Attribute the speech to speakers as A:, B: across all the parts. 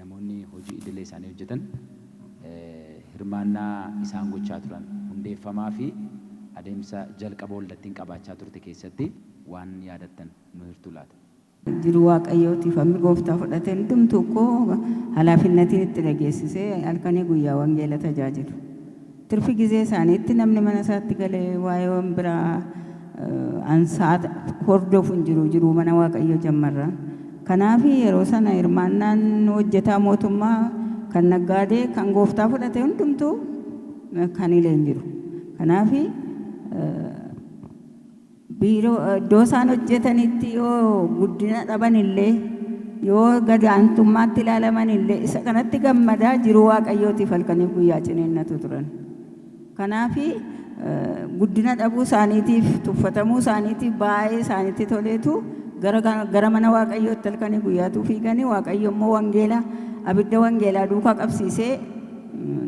A: Namoonni hojii idilee isaanii hojjetan hirmaannaa isaan gochaa turan hundeeffamaa fi adeemsa jalqaba waldattiin qabaachaa turte keessatti waan yaadattan nu hirtuu laata? Jiru
B: Waaqayyootiif hammi Gooftaa fudhate hundumtuu koo halaafinnatiin itti dhageessisee halkanii guyyaa wangeela tajaajilu. Tirfi gizee isaaniitti namni mana isaatti galee waa'ee wan biraa ansaat hordofu hin jiru, jiruu mana Waaqayyoo jammarra. Kanaafi yeroo sana hirmaannaan hojjetaa mootummaa, kan naggaadee, kan gooftaa fudhate hundumtuu kan hile hin jiru. Kanaafi Biiroo, iddoo isaan hojjetanitti yoo guddina dhaban illee, yoo gad aantummaatti ilaalaman illee isa kanatti gammadaa jiruu Waaqayyootiif halkaniif guyyaa ciniinnatu turan. Kanaaf guddina dhabuu isaaniitiif, tuffatamuu isaaniitiif baay'ee isaanitti toleetu gara, gara mana Waaqayyootti halkanii guyyaatuu fiiganii Waaqayyo immoo wangeela, abidda wangeelaa duukaa qabsiisee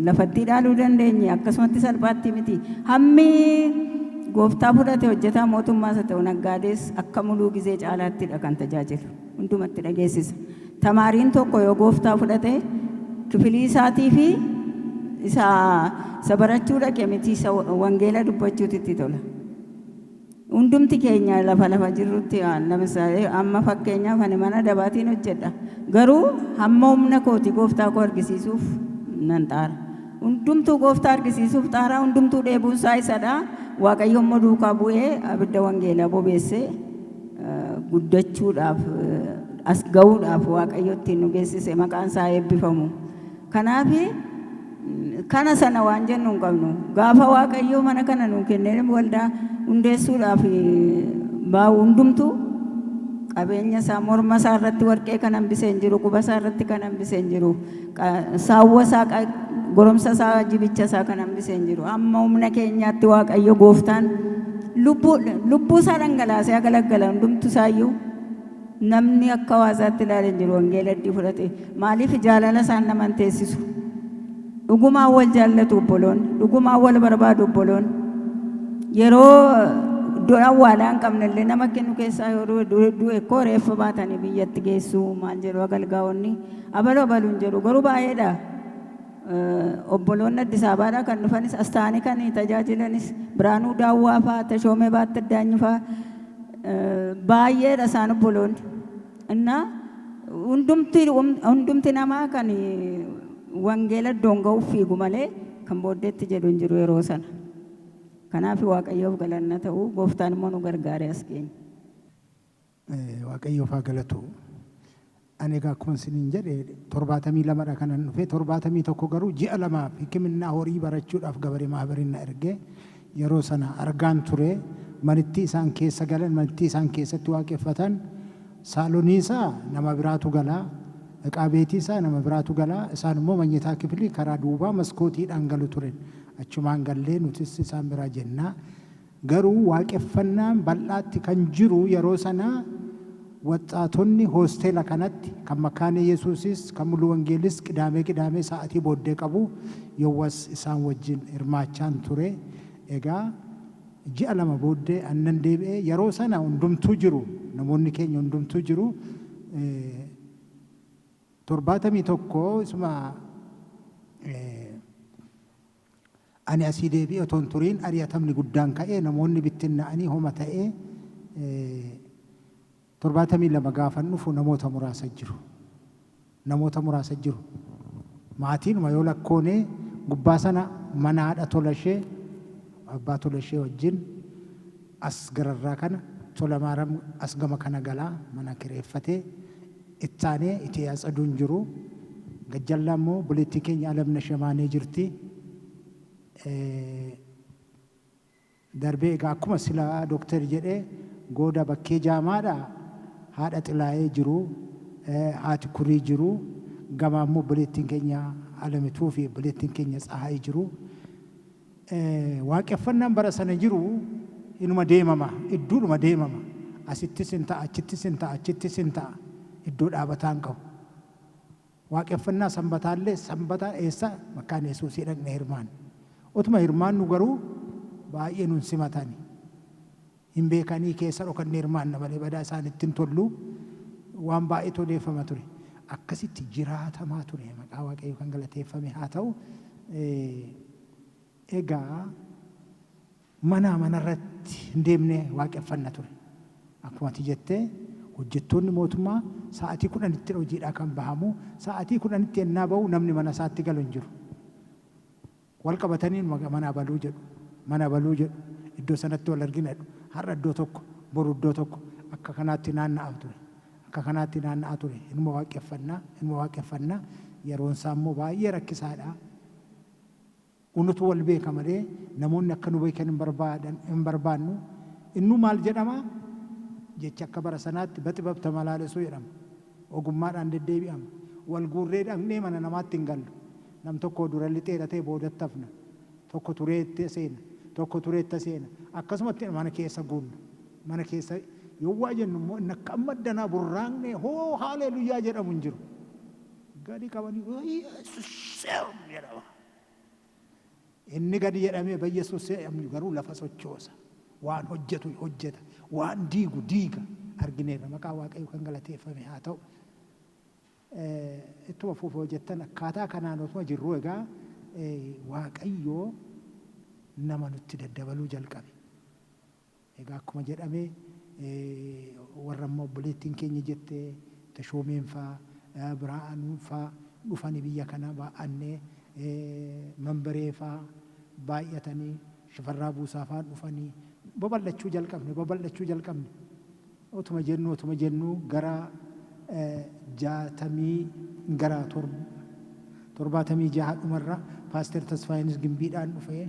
B: lafattii dhaaluu dandeenye akkasumatti salphaatti miti. Hammi gooftaa fudhate hojjetaa mootummaas haa ta'u naggaadees akka muluu gizee caalaattidha kan tajaajilu. Hundumatti dhageessisa. Tamaariin tokko yoo gooftaa fudhate kifilii isaatii fi isa isa barachuu dhaqe miti isa wangeela dubbachuutu itti tola. Hundumti keenya lafa lafa jirrutti waan lamisaa'e amma fakkeenyaaf ani mana dabaatiin hojjedha garuu hamma humna kooti gooftaa koo argisiisuuf nan xaara hundumtuu gooftaa argisiisuuf xaaraa hundumtuu dheebuun isaa isadha waaqayyo immoo duukaa bu'ee abidda wangeelaa bobeessee guddachuudhaaf as ga'uudhaaf waaqayyo ittiin nu geessise maqaan isaa eebbifamu. Kanaaf, kana sana waan jennu hin qabnu. Gaafa Waaqayyo mana kana nuu kennee waldaa hundeessuudhaaf baa'u hundumtuu qabeenya isaa morma isaa irratti warqee kan hambise hin jiru, quba isaa irratti kan hambise hin jiru, saawwa isaa goromsa isaa jibicha isaa kan hambise hin jiru. Amma humna keenyaatti Waaqayyo gooftaan lubbuu isaa dhangalaasee galagala hundumtu isaayyuu Namni akka waasaatti ilaale hin jiru wangeela iddii fudhate. Maaliif jaalala isaan nama hin teessisu. Dhugumaan wal jaallatu obboloonni. Dhugumaan wal barbaadu obboloonni. Yeroo iddoo awwaalaa hin qabne illee nama kennu keessaa yoo du'e du'e du'e koo reeffa baatanii biyyatti geessu maal jedhu agalgaa'onni abalu abalu hin jedhu garuu baay'eedha. Obboloonni Addis Ababaadhaa kan dhufanis as ta'anii kan tajaajilanis Biraanuu Daawwaa faa, Tashoomee Baatta Addaanyi faa baay'eedha isaan obboloonni. Innaa hundumti hundumti namaa kan wangeela iddoon ga'uuf fiigu malee kan booddeetti jedhu hin jiru yeroo sana. Kanaaf Waaqayyoof galanna ta'u gooftaan immoo nu gargaaree as geenye. Waaqayyoof
C: haa galatu. Ani egaa akkuma isiniin jedhe 72 dha kanan dhufe 71 garuu ji'a lamaaf hikiminnaa horii barachuudhaaf gabare maahabarin na erge yeroo sana argaan ture manittii isaan keessa galan manittii isaan keessatti waaqeffatan saalonii isaa nama biraatu gala iqaa beetii isaa nama biraatu gala isaan immoo manyitaa kifilii karaa duubaa maskootiidhaan galu turen achumaan gallee nutis isaan biraa jennaa Garuu waaqeffannaan bal'aatti kan jiru yeroo sana waxxaatonni hoosteela kanatti kan Makkaane Yesuusis kan Mulu Wangeelis qidaamee qidaamee sa'atii booddee qabu yowwas isaan wajjin hirmaachaan ture egaa ji'a lama booddee an nan deebi'e yeroo sana hundumtuu jiru namoonni keenya hundumtuu jiru 71 isuma Ani asii deebi'ee otoo hin turiin ari'atamni guddaan ka'ee namoonni bittinna'anii homa ta'ee 72 gaafan dhufu namoota muraasa jiru. Namoota muraasa jiru. Maatiinuma yoo lakkoonee gubbaa sana mana haadha Tolashee abbaa Tolashee wajjin as gararraa kana Tolamaaram as gama kana galaa mana kireeffatee Itti aanee Itee Atsadu hin jiru. Gad jallaa immoo obboleettii keenya Alamnash Yamaanee jirti. Darbee egaa akkuma sila Doktar jedhe Gooda Bakkee Jaamaadhaa haadha Xilaayee jiru, haati Kurii jiru, gamaa immoo obboleettiin keenya Alamituu fi obboleettiin keenya Tsahaay jiru. Waaqeffannaan bara sana jiru inuma deemama, idduudhuma deemama. Asittis in ta'a, achittis in ta'a, achittis in ta'a. Iddoo dhaabataa hin qabu. Waaqeffannaa Sanbataa illee Sanbata eessa? Makkaana Yesuusii dhaqnee hirmaanne. Utuma hirmaannu garuu baay'ee nun simatani. hin beekanii keessa dhokannee hirmaanna malee badaa isaanitti hin tollu waan baay'eetu odeeffama ture akkasitti jiraatamaa ture maqaa waaqayyoo kan galateeffame haa ta'u egaa manaa manarratti hin deemne waaqeffanna ture akkuma ati jettee hojjettoonni mootummaa sa'atii kudhanitti hojiidhaa kan bahamu sa'atii kudhanitti ennaa ba'u namni mana isaatti galu hin jiru wal qabatanii numa mana abaluu jedhu, mana abaluu jedhu, iddoo sanatti wal argina jedhu. Har'a iddoo tokko, boru iddoo tokko akka kanaatti naanna'a ture. Akka kanaatti naanna'a ture. Inuma waaqqeffanna, inuma waaqeffanna. Yeroon isaa immoo baay'ee rakkisaa dha. Unutu wal beeka malee namoonni akka nu beekan hin barbaadan, hin barbaannu. Innuu maal jedhama? Jechi akka bara sanaatti baxibab tamalaalesuu jedhama. ogummaadhaan deddeebi'ama. Wal guurree dhaqnee mana namaatti hin gallu. Nam tokkoo dura lixee dhatee boodatti hafna. Tokko turee itti seena. Tokko turee itti seena. Akkasumatti mana keessa guunna. Mana keessa yoo waa jennu immoo inni akka amma addanaa burraaqnee hoo haaleeluyyaa jedhamu hin jiru. Gadi qabanii uuii yesuuseeum jedhama. Inni gadi jedhamee bayye sussee amyu garuu lafa sochoosa. Waan hojjetu hojjeta. Waan diigu diiga. Argineerra. Maqaan Waaqayyoo kan galateeffame haa ta'u. Ittuma fuufa hojjettan akkaataa kanaan otuma jirruu egaa Waaqayyoo nama nutti daddabaluu jalqabe. Egaa akkuma jedhame warra amma obboleettiin keenya jette Tashoomeen faa, Biraa'anuun faa dhufani biyya kana baa'anne, Manbaree faa baay'atani, Shifarraa Buusaa faa dhufani babal'achuu jalqabne, babal'achuu jalqabne. Otuma jennuu, otuma jennuu gara 60 gara 76 dhumarra Paaster Tasfaayeenis Gimbiidhaan dhufe.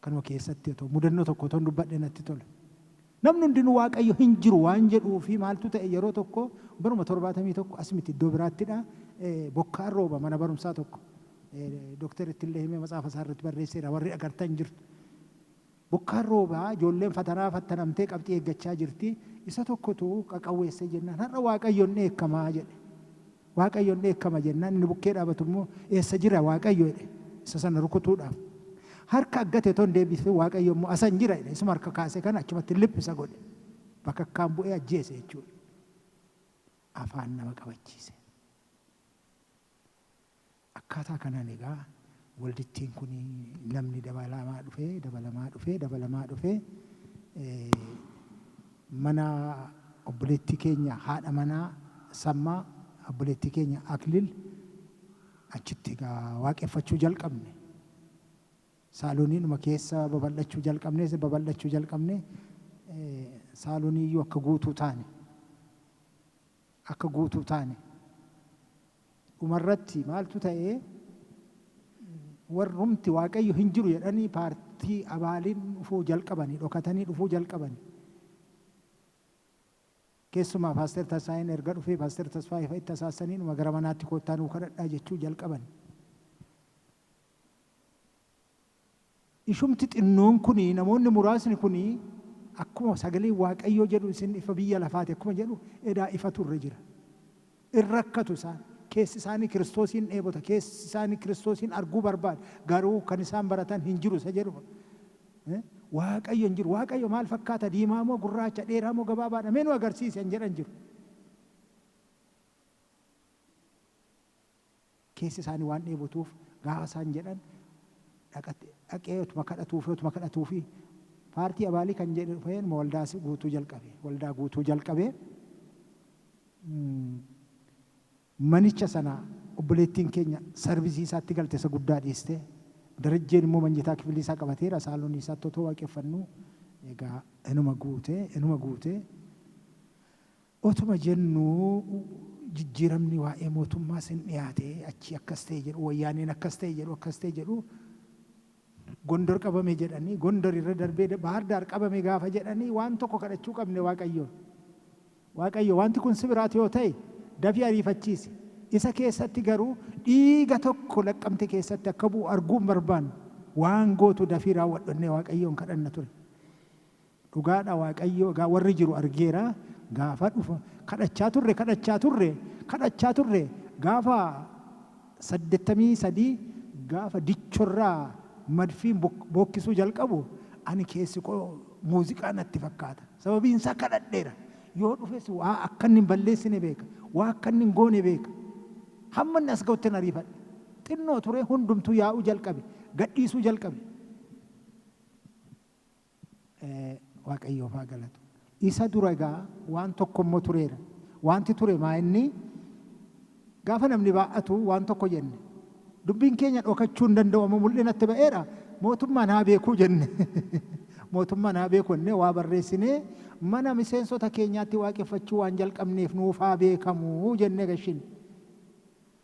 C: Kanuma keessatti otoo mudannoo tokko otoon dubbadhee natti tola. Namni hundinuu Waaqayyo hin jiru waan jedhuu fi maaltu ta'e yeroo tokko baruma 71 as miti iddoo biraattidha bokkaan rooba mana barumsaa tokko Dooktar Ittillee Himee matsaafa isaa irratti barreesseera warri agartan jirtu. Bokkaan rooba ijoolleen fatanaa fattanamtee qabxii eeggachaa jirti isa tokkotu qaqawweessee jennaan har'a Waaqayyo hin dheekkamaa jedhe. Waaqayyo in dheekkama jennaan, inni bukkee dhaabatu immoo, Eessa jira Waaqayyo? jedhe, isa sana rukutuudhaaf. Harka aggate utuu hin deebisin Waaqayyo immoo, Asan jira jedhe, isuma harka kaase kana achumatti lip isa godhe. Bakakkaan bu'ee ajjeese jechuu dha. Afaan nama qabachiise. Akkaataa kanaan egaa waldittiin kun namni dabalamaa dhufee, dabalamaa dhufee, dabalamaa dhufee mana obboleettii keenya haadha manaa Sammaa, obboleettii keenya Aklil achitti egaa waaqeffachuu jalqabne. Saalooniidhuma keessa babal'achuu jalqabne, babal'achuu jalqabne, saalooniiyyuu akka guutuu taane. akka guutuu taane. Dhumarratti maaltu ta'e? Warrumti Waaqayyo hin jiru jedhanii paartii abaaliin dhufuu jalqabani, dhokatanii dhufuu jalqabani. Keessumaa Paaster Tasfaayeen erga dhufee Paaster Tasfaayee fa'itti asaassaniidhuma gara manaatti koottaa nuu kadhadhaa jechuu jalqabani. Ishumti xinnoon kuni, namoonni muraasni kuni, akkuma sagaleen Waaqayyoo jedhu isin ifa biyya lafaati akkuma jedhu edaa ifatu irra jira. In rakkatu isaan. Keessi isaanii Kiristoosiin dheebota, keessi isaanii Kiristoosiin arguu barbaada, garuu kan isaan baratan hin jiru isa jedhu fa. Waaqayyo hin jiru. Waaqayyo maal fakkaata? Diimaa moo gurraacha? Dheeraa moo gabaabaadha? Mee nu agarsiisi kan jedhan jiru. Keessi isaanii waan dheebotuuf gaafa isaan jedhan dhaqatt dhaqee otuma kadhatuufii otuma kadhatuufii paartii abaalii kan jedhe dhufee inuma waldaa si guutuu jalqabe waldaa guutuu jalqabee manicha sana obboleettiin keenya sarvisii isaatti galte isa guddaa dhiistee Darajjeen immoo manyitaa kifilii isaa qabateera saalonii isaatti otoo waaqeffannuu egaa inuma guutee inuma guutee Otuma jennuu jijjiiramni waa'ee mootummaas hin dhiyaate, achii akkas ta'e jedhu, Wayyaaneen akkas ta'e jedhu, akkas ta'e jedhu, Gondor qabame jedhanii, Gondor irra darbee Baahar Daar qabame gaafa jedhanii waan tokko kadhachuu qabne Waaqayyoon. Waaqayyo wanti kun si biraati yoo ta'e dafii ariifachiisi, isa keessatti garuu dhiiga tokko Laqqamte keessatti akka bu'u arguu hin barbaannu, waan gootu dafii raawwadhu jennee Waaqayyoon kadhanna ture. Dhugaadha waaqayyoo egaa warri jiru argeera gaafa dhufa kadhachaa turre kadhachaa turre kadhachaa turre gaafa 83 gaafa dichorraa madfiin bookkisuu jalqabu ani keessikoo muuziqaa natti fakkaata sababiinsaa kadhadheera yoo dhufes waa akkanni hin balleessine beeka waa akkanni hin goone beeka hammanni as ga'uttin ariifadhe xinnoo turee hundumtuu yaa'uu jalqabe gadhiisuu jalqabe Waaqayyoof haa galatu. Isa dura egaa waan tokko immoo tureera. Waanti ture maa inni gaafa namni baay'atu waan tokko jenne. Dubbiin keenya dhokachuu hin danda'u amma mul'inatti ba'eera mootummaan haa beekuu jenne. Mootummaan haa beeku jennee waa barreessinee mana miseensota keenyaatti waaqeffachuu waan jalqabneef nuuf haa beekamu jennee gashine.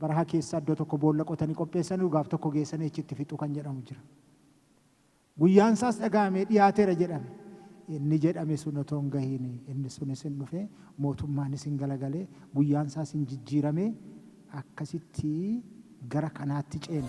C: Baraha keessa iddo tokko boolla qotani qopheessaniru gaaf tokko geessani achitti fixu kan jedhamu jira. Guyyaan isaas dhaga'amee dhiyaatera jedhame. Inni jedhame sun otoo hin gahiini inni sunis hin dhufe mootummaanis hin galagale guyyaan isaas hin jijjiirame akkasitti gara kanaatti ceene.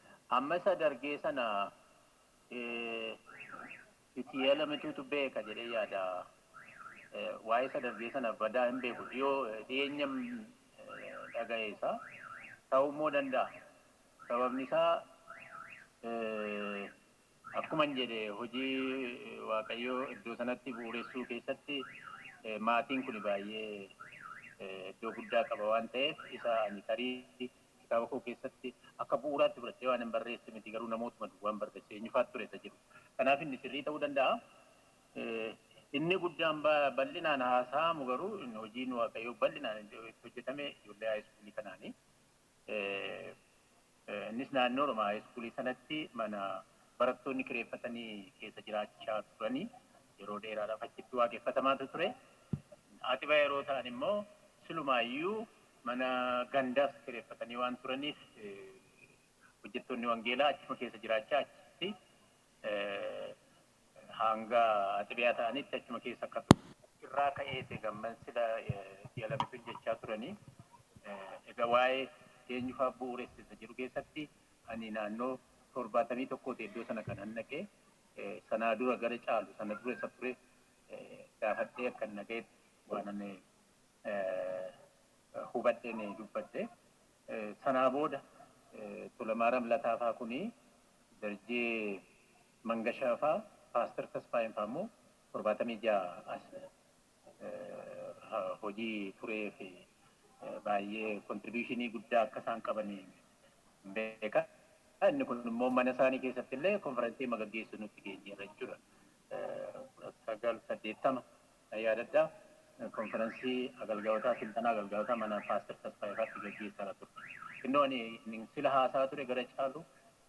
D: Amma isa dargee sana itti yeelamituutu beeka jedhee yaada. Waa'ee isa dargee sana badaa hin beeku dhiyoo dhiyeenya dhaga'e isaa ta'uu immoo danda'a. Sababni isaa akkuma hin jedhe hojii waaqayyoo iddoo sanatti bu'uuressuu keessatti maatiin kun baay'ee iddoo guddaa qaba waan ta'eef isa ani tarii kitaaba koo keessatti akka bu'uuraatti fudhadhee waanan barreesse miti garuu namootuma duwwaan barreesse eenyufaatu ture isa jedhu kanaaf inni sirrii ta'uu danda'a. Inni guddaan bal'inaan haasa'amu garuu hojiin waaqayyoo bal'inaan itti hojjetame ijoollee haayiskuulii kanaani. Innis naannoo Oromaa haayiskuulii sanatti mana barattoonni kireeffatanii keessa jiraachaa turanii yeroo dheeraadhaaf achitti waaqeffatamaa ture. Aaxibaa yeroo ta'an immoo silumaayyuu Mana gandaas kireeffatanii waan turaniif hojjettoonni wangeelaa achuma keessa jiraachaa achitti hanga xibiyaa ta'anitti achuma keessa akka turu. Achirraa ka'ees egaa amman sila ji'a lamitun jechaa turanii egaa waa'ee eenyufaa bu'uuressa isa jedhu keessatti ani naannoo torbaatamii tokkooti iddoo sana kanan dhaqe sanaa dura gara caalu sana dura isa ture gaafadhee akkan dhaga'etti waanan hubadheen dubbadhe. Sanaa booda Tulamaaram Lataa faa kuni Darjee Mangashaa faa Paaster Tasfaayeen faa immoo 76 as hojii turee fi baay'ee kontribiishinii guddaa akka isaan qaban beeka. Inni kun immoo mana isaanii keessatti illee konferansii magaggeessu nutti geenyeerra jechuudha. 1980 Nan yaadadha, konfiransii agalgayotaa, silxanaa agalgayotaa mana Paaster Tasfaayee faatti gaggeessaara turre. Xinnoo ani innin sila haasa'aa ture gara caalu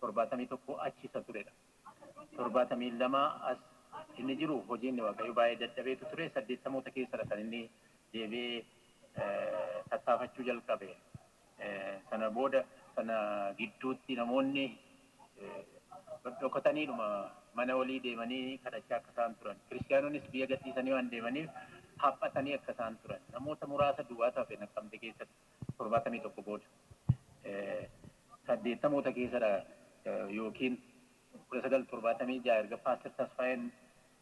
D: 71 achi isa turedha. 72 as inni jiru hojiinni Waaqayyoo baay'ee dadhabeetu ture, 80moota keessadha kan inni deebi'ee tattaafachuu jalqabe. Sana booda sana gidduutti namoonni dhodhokataniidhuma mana walii deemanii kadhachaa akka isaan turan, Kiristiyaanonis biyya gadhiisanii waan deemaniif haphatanii akka isaan turan, namoota muraasa duwwaatu hafe Naqqamte keessatti 71 booda. 80moota keessadha ykn 1976 erga Paastar Tasfaayeen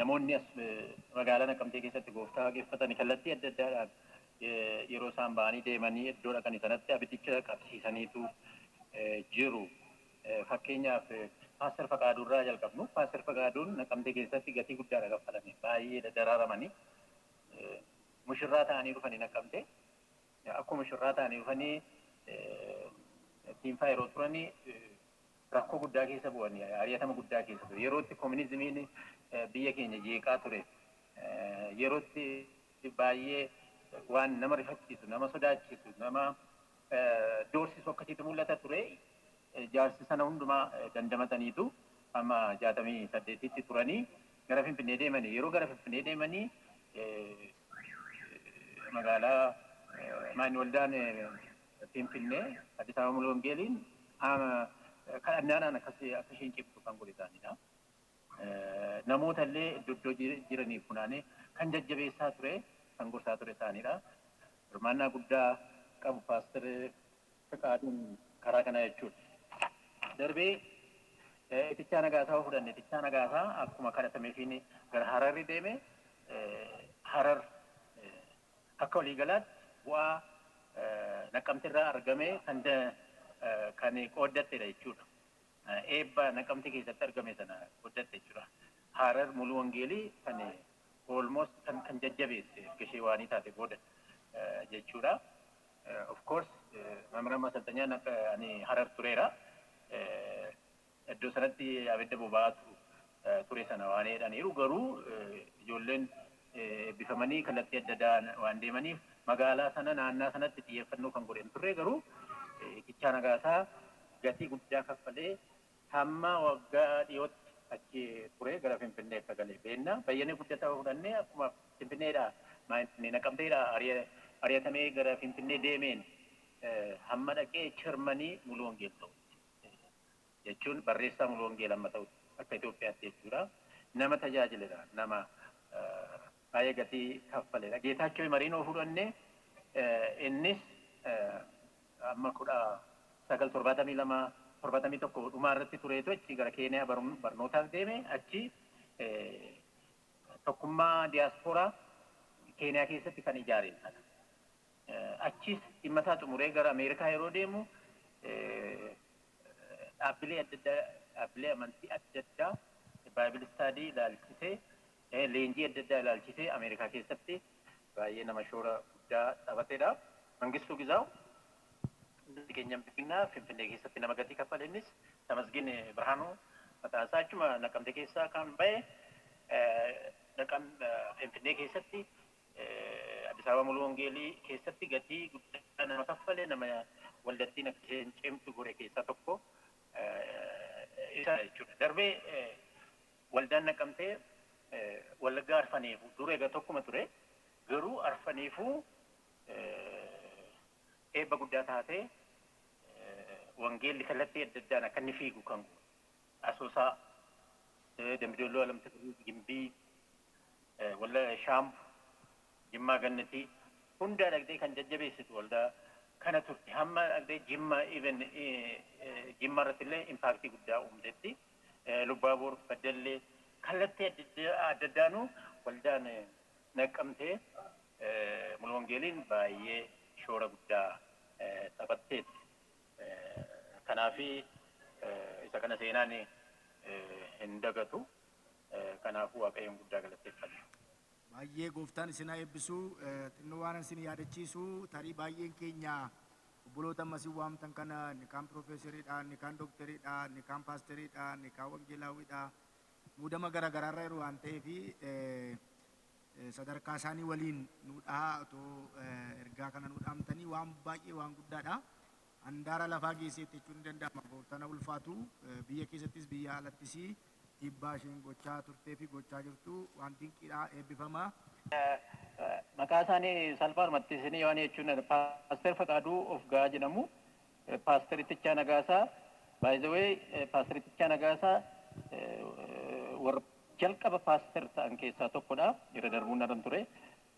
D: Namoonni as magaalaa Naqamtee keessatti Gooftaa waaqeffatan kallattii adda addaadhaan yeroo isaan ba'anii deemanii iddoo dhaqani sanatti abiddicha qabsiisaniitu jiru. Fakkeenyaaf Paaster Faqaaduu irraa jalqabnu. Paaster Faqaaduun Naqamtee keessatti gatii guddaadha kaffalame. Baay'eedha daraaramanii. Mushurraa ta'anii dhufanii Naqamtee. Akkuma mushurraa ta'anii dhufanii Tiinfaa yeroo turanii rakkoo guddaa keessa bu'an, ari'atama guddaa keessa ture. Yerootti kominizimiin biyya keenya jeeqaa ture, yerootti baay'ee waan nama rifachiisu, nama sodaachisu, nama doorsisu akkasiitu mul'ata ture. Jaarsi sana hundumaa dandamataniitu amma 68tti turanii gara Finfinnee deemanii. Yeroo gara Finfinnee deemanii magaalaa Maanni Waldaan Finfinnee, Addis Ababa Mulu Wongeeliin kadhannaadhaan akka isheen cimtu kan godhe isaaniidha. Namoota illee iddoo iddoo jiraniif funaanee kan jajjabeessaa ture, kan gorsaa ture isaaniidha. Hirmaannaa guddaa qabu Paastar Fiqaaduun karaa kanaa jechuudha. Darbee Itichaa Nagaasaa yoo fudhanne Itichaa Nagaasaa akkuma kadhatameefiin gara Hararri deeme Harar Akka waliigalaatti bu'aa Naqqamterraa argame kan kan qooddattedha jechuudha. Eebba Naqqamtee keessatti argame sana qooddatte jechuudha. Harar Muluu Wangeelii kan almost kan kan jajjabeesse erga ishee waanii taate booda jechuudha. Of course Mamran Masalxanyaa ani Harar tureera. Iddoo sanatti abidda boba'aatu ture sana waan jedhaniiru. Garuu ijoolleen eebbifamanii kallattii adda addaa waan deemaniif magaalaa sana naannaa sanatti xiyyeeffannoo kan godhe hin turre garuu Itichaa Nagaasaa gatii guddaa kaffalee hamma waggaa dhiyootti achi ture gara Finfinnee akka gale beenna. Bayyanee Guddataa fudhannee akkuma Finfinneedhaa maayinni Naqamteedhaa ari'atamee gara Finfinnee deemeen hamma dhaqee Chermanii Muluu Wangeel ta'utti jechuun barreessaa mulu wangeela amma ta'utti akka Itoophiyaatti jechuudha nama tajaajiledha nama baay'ee gatii kaffaledha Geetaachoo Imariin yoo fudhanne innis amma kudha sagal torbaatamii lama torbaatamii tokko dhumaa irratti tureetu achi gara Keeniyaa barnootaaf deeme achi tokkummaa diyaaspooraa Keeniyaa keessatti kan ijaare Achiis dhimma isaa xumuree gara Ameerikaa yeroo deemu dhaabbilee adda addaa, dhaabbilee amantii adda addaa Bible study ilaalchisee, leenjii adda addaa ilaalchisee Ameerikaa keessatti baay'ee nama shoora guddaa taphatedha. Mangistuu Gizaaw keenya Binnaa Finfinnee keessatti nama gatii kaffale innis Tamasgin Birhaanuu maqaan isaa achuma Naqamte keessaa kan ba'e Finfinnee keessatti Addis Ababa Muluu Wongeelii keessatti gatii guddaa nama kaffale, nama waldattiin akka isheen cimtu godhe keessaa tokko isadha jechuudha. Darbee waldaan Naqqamtee Wallaggaa Arfaneefuu dur egaa tokkuma ture garuu Arfaneefuu eebba guddaa taatee wangeelli kallattii adda addaan akka inni fiigu kan Asoosaa, Dambi Dolloo, Alamtti Birrii, Gimbii, Walla Shaambu, Jimmaa Gannatii hundaa dhaqxee kan jajjabeessitu waldaa kana turte. Hamma dhaqxee Jimma even Jimma irratti illee impaaktii guddaa uumtetti. Lubbaabor, Baddallee kallattii adda addaanuu waldaan Naqqamtee Mulu Wangeeliin baay'ee shoora guddaa taphatteetti. Kanaaf isa kana seenaan hin dagatu. Kanaafuu Waaqayyoon guddaa galateeffanna. Baay'ee
E: gooftaan isin haa eebbisu. Xinnoo waanan isin yaadachiisu tarii baay'een keenya obboloota amma isin waamtan kana inni kaan piroofeeseriidha, inni kaan dookteriidha, inni kaan paasteriidha, inni kaan wangeelaawwiidha. Muudama garaagaraarra jiru waan ta'eef sadarkaa isaanii waliin nuu dhahaa otoo ergaa kana nuu dhaamtanii waan baay'ee waan guddaadha. Handaara lafaa geesseetti jechuun ni danda'ama gooftana ulfaatu biyya keessattis biyya alattis dhiibbaa isheen gochaa turtee fi gochaa jirtu waan dinqiidha eebbifama.
D: Maqaa isaanii salphaadhumatti isinii waan jechuun dha. Paaster Faqaaduu of ga'aa jedhamu. Paaster Ittichaa Nagaasaa by the way Paaster Ittichaa Nagaasaa warra Jalqaba Paaster ta'an keessaa tokko dha. Irra darbuun narra hin ture.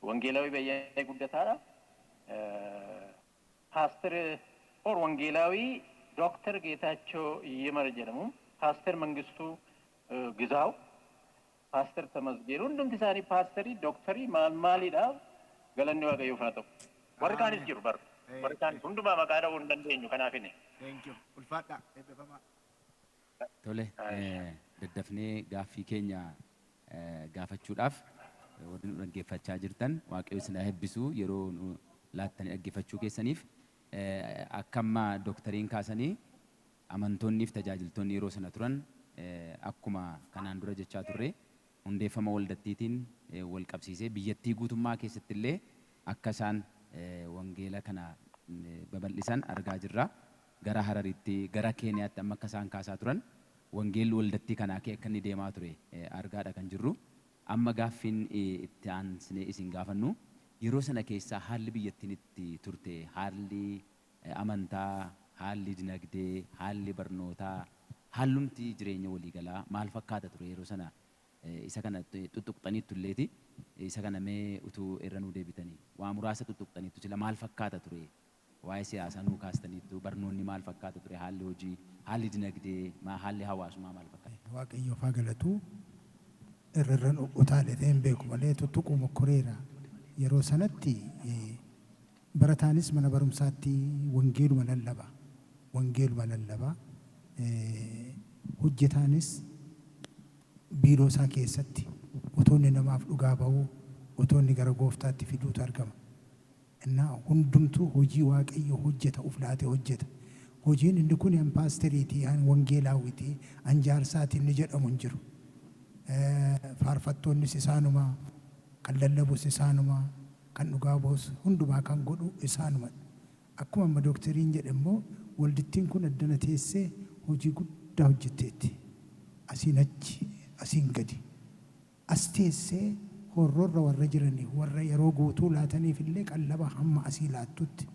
D: Wangeelaawii Bayyanee Guddataa dha. Paaster or Wangeelaawii Dr. Geetaachoo Yimar jedhamu. Paaster Mangistuu Gizaaw, Paaster Tamasgeen hundumti isaanii paasterii, doktorii maal maalii dha. Galanni Waaqayyoof haa ta'u. Warri kaanis jiru bar. Warri kaanis hundumaa maqaa dha'uu hin dandeenyu kanaafini. Thank you.
E: Ulfaadhaa. Eebbifamaa.
A: Tole, daddafnee gaaffii keenya gaafachuudhaaf warri nu dhaggeeffachaa jirtan Waaqayyo isin haa eebbisu yeroo nu laattanii dhaggeeffachuu keessaniif. Akka amma Doktariin kaasanii amantoonnii fi tajaajiltoonni yeroo sana turan akkuma kanaan dura jechaa turre hundeeffama waldattiitiin wal qabsiisee biyyattii guutummaa keessatti illee akka isaan wangeela kana babal'isan argaa jirra. gara Hararitti, gara Keeniyaatti amma akka isaan kaasaa turan wangeelli waldattii kanaa akka akka inni deemaa ture argaa dha kan jirru. Amma gaaffiin itti aansinee isin gaafannu yeroo sana keessaa haalli biyyattiin itti turte, haalli amantaa, haalli dinagdee, haalli barnootaa, haallumti jireenya walii galaa maal fakkaata ture yeroo sana isa kana xuxxuqxaniittu illee ti. Isa kana mee utuu irra nuu deebitanii waa muraasa xuxxuqxaniittu sila maal fakkaata ture Waa'ee siyaasaa nuu kaastaniittu. Barnoonni maal fakkaata ture? Haalli hojii, haalli dinagdee, ma haalli hawaasumaa maal fakkaata? Waaqayyoof haa galatu.
C: Irra irran utaaletee hin beeku malee tuttuquu mokkoreera. Yeroo sanatti barataanis mana barumsaatti wangeeluma lallaba. Wangeeluma lallaba. Hojjetaanis biiroo isaa keessatti utuu inni namaaf dhugaa ba'uu, utuu inni gara Gooftaatti fiduutu argama. Innaa hundumtuu hojii Waaqayyo hojjeta uf laate hojjeta. Hojiin inni kuni an paasteriiti, an wangeelaawwiti, an jaarsaati inni jedhamu hin jiru. Faarfattoonnis isaanuma, kan lallabus isaanuma, kan dhugaa ba'us hundumaa kan godhu isaanuma. Akkuma amma Dookteriin jedhe immoo waldittiin kun addana teessee hojii guddaa hojjetteetti. Asiin achi, asiin gadi. As teessee horrorra warra jiraniif, warra yeroo guutuu laataniif illee qallaba hamma asii laattutti,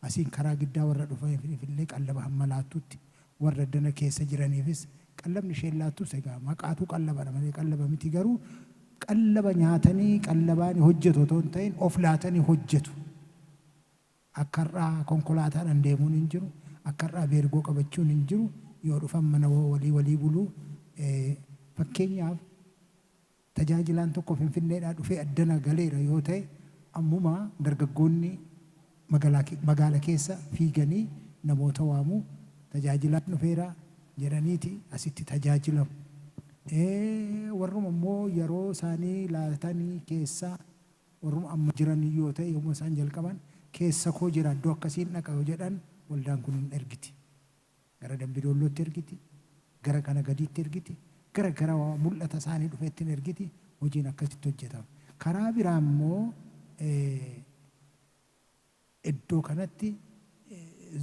C: asiin karaa giddaa warra dhufaniif illee qallaba hamma laattutti, warra dana keessa jiraniifis qallabni isheen laattus egaa maqaatu qallaba dha malee qallaba miti garuu qallaba nyaatanii qallabaani hojjetu otoo hin ta'in of laatanii hojjetu. Akka har'aa konkolaataadhan deemuun hin jiru, akka har'aa beergoo qabachuun hin jiru, yoo dhufan mana walii walii bulu. Fakkeenyaaf tajaajilaan tokko Finfinneedhaa dhufee addana galeera yoo ta'e ammuma dargaggoonni magaala keessa fiiganii namoota waamu, tajaajilaan dhufeera jedhaniiti asitti tajaajilamu. Warruma immoo yeroo isaanii laatanii keessaa Warruma amma jiran iyyuu yoo ta'e yommuma isaan jalqaban keessa koo jira iddoo akkasiin dhaqa yoo jedhan waldaan kun hin ergiti. Gara Dambi Doollootti ergiti, gara kana gadiitti ergiti, gara gara mul'ata isaanii dhufeetti hin ergiti, hojiin akkasitti hojjetama. Karaa biraa immoo iddoo kanatti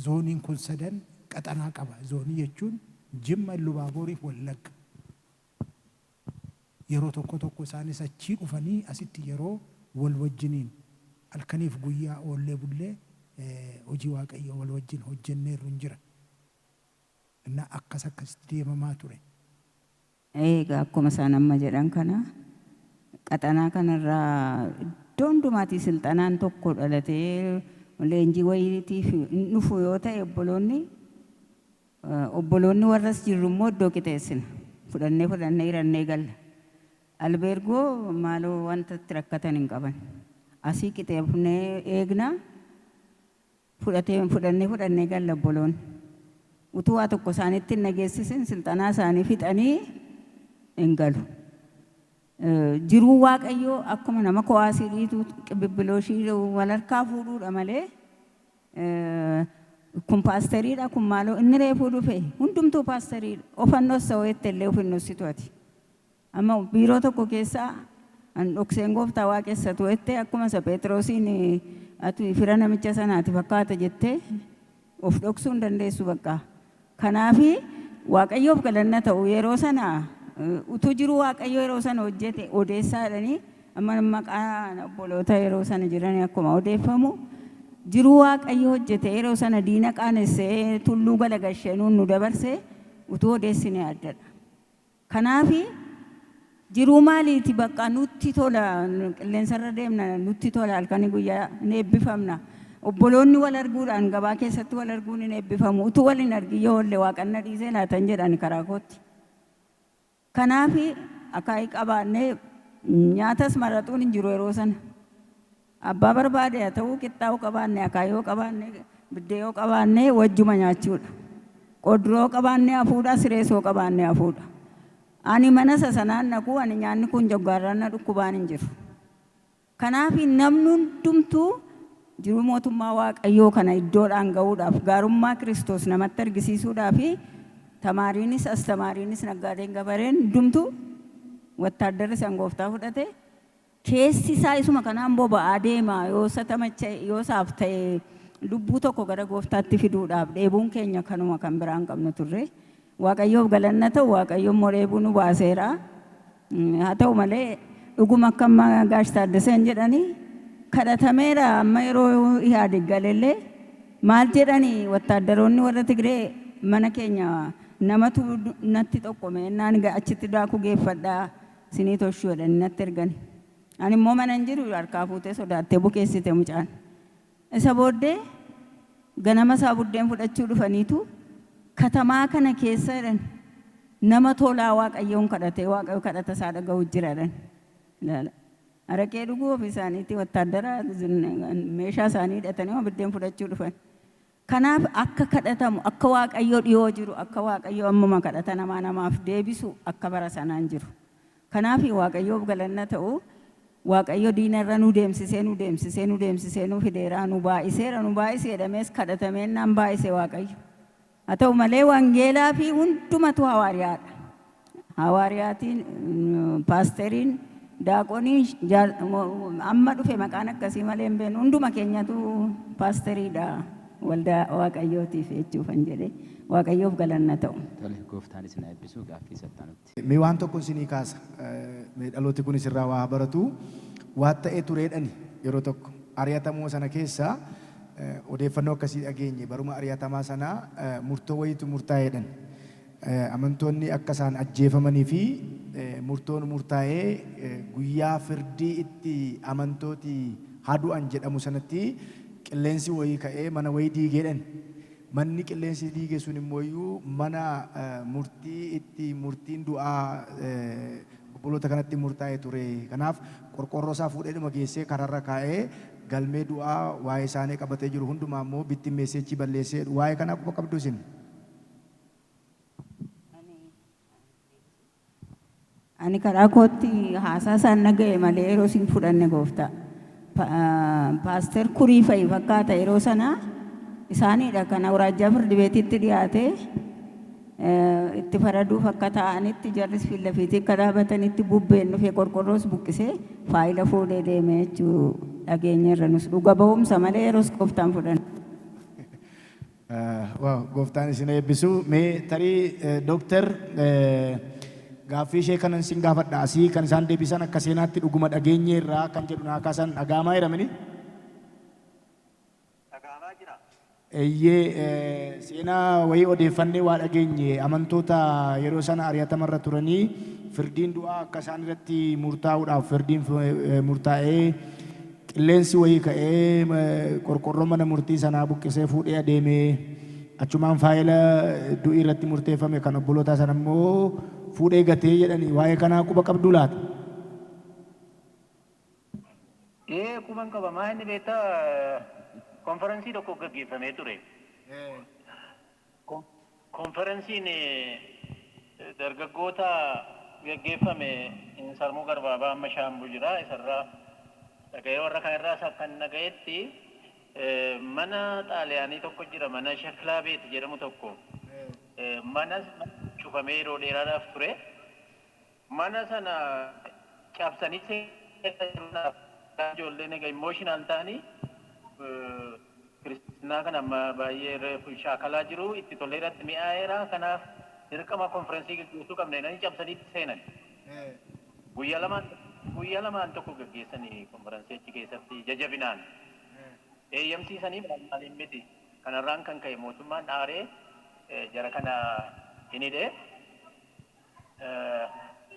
C: zooniin kun sadan qaxanaa qaba. Zoonii jechuun Jimma, Illu Baabooriif Wallagga. Yeroo tokko tokko isaanis achii dhufanii asitti yeroo wal wajjiniin halkaniif guyyaa oollee bullee hojii Waaqayyoo wal wajjin hojjenneerrun jira. Innaa akkas akkasitti deemamaa ture.
B: Eegaa akkuma isaan amma jedhan kana qaxanaa kanarraa iddoo hundumaatii silxanaan tokko dhalatee leenjii wayiitiif hin dhufu yoo ta'e obboloonni, Obboloonni warra as jirru immoo iddoo qixeessina. Fudhannee fudhannee hirannee galla. Albeergoo maaloo wanta itti rakkatan hin qaban. Asii qixeefnee eegna. Fudhatee fudhannee fudhannee galla obboloonni. Utuu waa tokko isaanitti hin dhageessisin silxanaa isaanii fixanii hin galu. Eh, Jiruu Waaqayyoo akkuma nama kowaasii dhiituu qibibbilooshii wal harkaa fuudhuudha malee Kun paasteriidha kun maaloo inni reefuu dhufe hundumtuu paasteriidha ofan dhossa ho'ette illee of hin dhossitu ati amma biiroo tokko keessa an dhokseen gooftaa waaqessatu ho'ette akkuma isa Pheexroosiin ati fira namicha sanaati fakkaata jettee of dhoksuu hin dandeessu baqqaa Kanaaf Waaqayyoof galanna ta'u yeroo sana utuu jiruu Waaqayyo yeroo sana hojjete odeessaa jedhanii amma maqaa obboloota yeroo sana jiranii akkuma odeeffamu jiruu Waaqayyo hojjete yeroo sana diina qaanessee tulluu galagashenuun nu dabarse utuu odeessine addadha. Kanaafi jiruu maaliiti baqqa nutti tola qilleensarra deemna nutti tola halkani guyyaa hin eebbifamna obboloonni wal arguudhaan gabaa keessatti wal arguun hin eebbifamu utuu wal hin argin yoo oolle waaqan na dhiisee laata hin jedha ani karaa kootti kanaafi akaayii qabaannee nyaatas maraxuun hin jiru yeroo sana. Abbaa barbaade haa ta'uu qixxaa yoo qabaanne akaayii yoo qabaanne biddee yoo qabaanne wajjuma nyaachuudha. Qodroo yoo qabaanne hafuudha sirees yoo qabaanne hafuudha. Ani mana isa sanaan dhaquu ani nyaanni kun joggaarraan na dhukkubaan hin jiru. Kanaaf namni hundumtuu jiruu mootummaa waaqayyoo kana iddoodhaan ga'uudhaaf gaarummaa Kiristoos namatti argisiisuudhaaf tamaariinis astamaariinis naggaadeen gabareen hundumtuu wattaaddarri san gooftaa fudhate Keessi isaa isuma kanaan boba'aa deema, yoo isa tamacha'e, yoo isaaf ta'e lubbuu tokko gara gooftaatti fiduudhaaf dheebuun keenya kanuma kan biraa hin qabnu turre. Waaqayyoof galanni haa ta'u Waaqayyo immoo dheebuu nu baaseera. Haa ta'u malee dhuguma akka amma Gaash Taaddaseen jedhani kadhatameera amma yeroo Ihaadig galellee maal jedhani wattaaddaroonni warra Tigree mana keenya namatu natti xoqqome ennaan achitti daakuu geeffadhaa Sinii toshuu jedhanii natti ergani. Ani immoo mana hin jiru harkaa fuutee sodaattee bukeessite mucaan. Isa booddee ganama isaa buddeen fudhachuu dhufaniitu katamaa kana keessa jedhani nama tolaa Waaqayyoon kadhatee Waaqayyo kadhata isaa dhaga'u jira jedhani. Ilaala. Araqee dhuguu ofii isaaniitii wattaaddara meeshaa isaanii hidhataniima biddeen fudhachuu dhufani. Kanaaf akka kadhatamu, akka Waaqayyo dhihoo jiru, akka Waaqayyo ammuma kadhata namaa namaaf deebisu akka bara sanaa hin jiru. Kanaaf Waaqayyoof galanna ta'u Waaqayyo diina irra nu deemsisee nu deemsisee nu deemsisee nu fideera, nu baay'iseera, nu baay'isi jedhamees kadhatameennaan baay'ise Waaqayyo. Haa ta'u malee wangeelaa fi hundumatu hawaariyaa dha. Hawaariyaatiin, paasteriin, daaqoniin, amma dhufe maqaan akkasii malee hin beeknu hunduma keenyatu paasteriidha waldaa waaqayyootiif jechuufan jedhe waaqayyoof galanna ta'u. Tole gooftaan isin
A: haa eebbisu gaaffii isa itti aanutti. Mee waan tokko isinii
E: kaasa. Mee dhalooti kunis irraa waa haa baratu. Waan ta'ee tureedhani yeroo tokko. Ari'atamuma sana keessa odeeffannoo akkasii dhageenye. Baruma ari'atamaa sanaa murtoo wayiitu murtaa'eedhan. Amantoonni akka isaan ajjeefamanii fi murtoon murtaa'ee guyyaa firdii itti amantooti haa du'an jedhamu sanatti qilleensi wayii ka'ee mana wayii diige jedhan. Manni qilleensi diige sun immoo mana murtii itti murtiin du'aa obboloota kanatti murtaa'e ture. Kanaaf qorqoorroo isaa fuudheedhuma geessee karaa irra kaa'ee galmee du'aa waa'ee isaanii qabatee jiru hundumaa immoo bittimmeessee achii balleesse jedhu. Waa'ee kanaa quba qabduu isin?
B: Ani karaa kootti haasaa isaan dhaga'e malee yeroo sin fudhanne gooftaa. Paaster kurii fa'i fakkaata yeroo sana isaaniidha kan awuraajjaa firdibeetiitti dhiyaatee itti faraduuf akka taa'anitti jarris fiillafiitii akka dhaabatanitti bubbeen dhufee qorqorroos buqqisee faayila fuudhee deemee jechuu dhageenya irra nus dhuga ba'umsa malee yeroos gooftaan fudhanne.
E: Waaw gooftaan isin eebbisu. Mee tarii Doktar gaaffii ishee kanan sin gaafadha asii kan isaan deebisan akka seenaatti dhuguma dhageenyeerraa kan jedhu naa kaasan dhaga'amaa jira mini? Dhaga'amaa jira. Eeyyee seenaa wayii odeeffannee waa dhageenye amantoota yeroo sana ari'atamarra turanii firdiin du'aa akka isaan irratti murtaa'uudhaaf firdiin murtaa'ee Qilleensi wayii ka'ee qorqorroo mana murtii sanaa buqqisee fuudhee adeeme. Achumaan faayila du'i irratti murteeffame kan obbolootaa sana immoo fuudhee gate jedhani. Waa'ee kanaa quba qabduu laata?
D: Ee, quban qaba. Maalinni beektaa, konfaransii tokko gaggeeffamee ture. Konfaransiin dargaggoota gaggeeffame Insarmuu Garbaabaa amma Shaambuu jira isarraa dhagahee warra kan irraas akkan dhagahetti mana xaaliyaanii tokko jira mana sheklaa beeti jedhamu tokko mana cufamee yeroo dheeraadhaaf ture. Mana sana cabsanii seenan ijoollee naga emotional ta'anii kiristinnaa kana amma baay'ee reefu shaakalaa jiru itti tolee irratti mi'aayeera kanaaf dirqama konferensii gaggeessuu qabna jedhanii cabsanii itti seenan. Guyya lamaan guyya lamaan tokko gaggeessanii konferensii achi keessatti ija jabinaan eeyyamsiisanii maal maaliin miti kanarraan kan ka'e mootummaan aaree jara kana hin hidhe.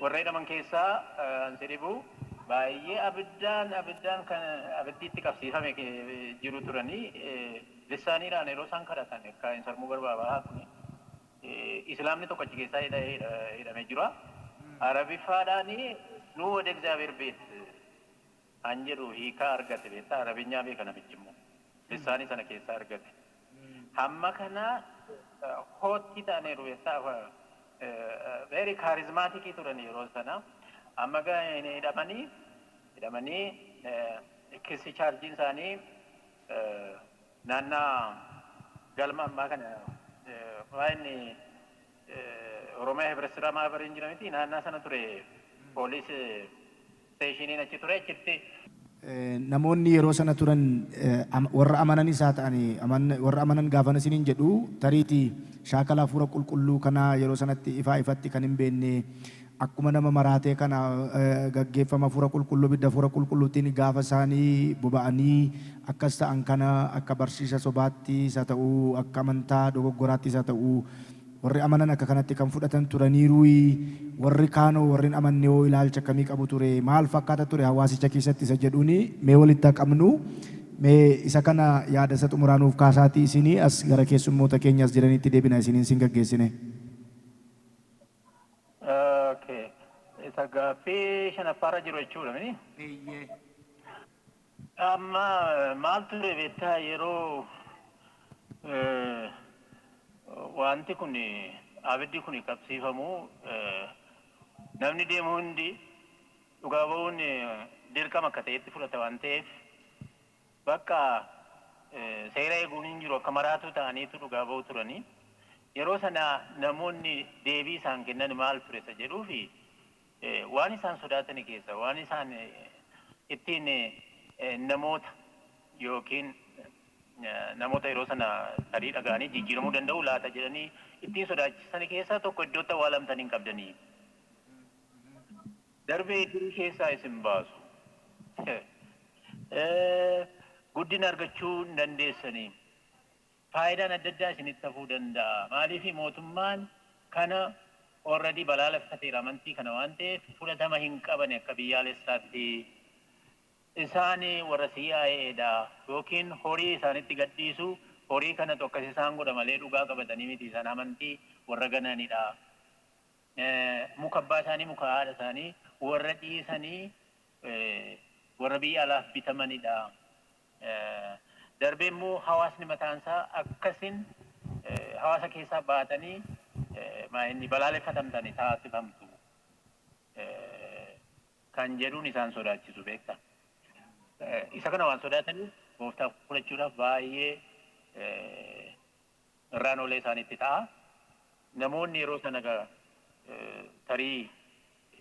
D: Warra hidhaman keessaa kan si dhibu baay'ee abiddaan abiddaan kan abiddiitti qabsiifame jiru turanii lissaaniidhaan yeroo isaan kadhatan akka hin sarmuu barbaabaa kuni islaamni tokko achi keessaa hidhamee jira. Arabiffaadhaan nuu wada egzaabeer beet an jedhu hiikaa argate beektaa arabinyaa beeka namichi immoo lissaanii sana keessaa argate hamma kana hoottii ta'aniiru beektaa very charismatic turan yeroo sana amma gaa hidhamanii hidhamanii kissi chaarjiin isaanii naannaa galma ammaa kana baay'inni Oromiyaa Hibret Siraa Maabariin jira miti naannaa sana ture poolis isteeshiiniin achi ture achitti.
E: Namoonni yeroo sana turan warra amananis haa ta'ani warra amanan gaafan isiniin jedhu tariiti shaakala hafuura qulqulluu kanaa yeroo sanatti ifaa ifatti kan hin beenne akkuma nama maraatee kana gaggeeffama Hafuura Qulqulluu, ibidda Hafuura Qulqulluutiin gaafa isaani boba'anii akkas ta'an kana akka barsiisa sobaattis haa ta'u, akka amantaa dogoggoraattis haa ta'u, warri amanan akka kanatti kan fudhatan turaniiruuyi? Warri kaan hoo, warri hin amanne hoo ilaalcha akkamii qabu ture? Maal fakkaata ture hawaasicha keessatti isa jedhuun mee walitti haa qabnu. Mee isa kana yaada isa xumuraa nuuf kaasaatii isin as gara keessummoota keenya as jiraniitti deebina isiniin sin gaggeessine.
D: Ok. Isa gaaffii shanaffaarra jiru jechuudha mini? Eeyyee. Amma maal ture beektaa yeroo wanti kun abiddi kun qabsiifamu namni deemu hundi dhugaa ba'uun dirqama akka ta'etti fudhata waan ta'eef Bakka seera eeguun hin jiru akka maraatuu ta'aniitu dhugaa ba'u turani. Yeroo sana namoonni deebii isaan kennan maal ture isa jedhuufi waan isaan sodaatani keessa waan isaan ittiin namoota yookiin namoota yeroo sana tarii dhaga'anii jijjiiramuu danda'u laata jedhanii ittiin sodaachisani keessaa tokko iddootti awwaalamtan hin qabdanii? Darbee idirii keessaa isin baasu. Guddina argachuu hin dandeessani. Faayidaan adda addaa isinitti hafuu danda'a. Maaliif mootummaan kana already balaaleffateera amantii kana waan ta'eef fudhatama hin qabani akka biyyaalessaatti. Isaan warra CIA dha yookiin horii isaanitti gad dhiisu horii kanatu akkas isaan godha malee dhugaa qabatanii miti isaan amantii warra gananidha. muka abbaa isaanii, muka haadha isaanii warra dhiisanii warra biyya alaaf bitamanidha. Darbee immoo hawaasni mataan isaa akkasin hawaasa keessaa baatanii maa'inni balaaleffatamtani taasifamtu kan jedhuun isaan sodaachisu beekta. Isa kana waan sodaataniif gooftaa fudhachuudhaaf baay'ee irraan olee isaanitti ta'a. Namoonni yeroo sana tarii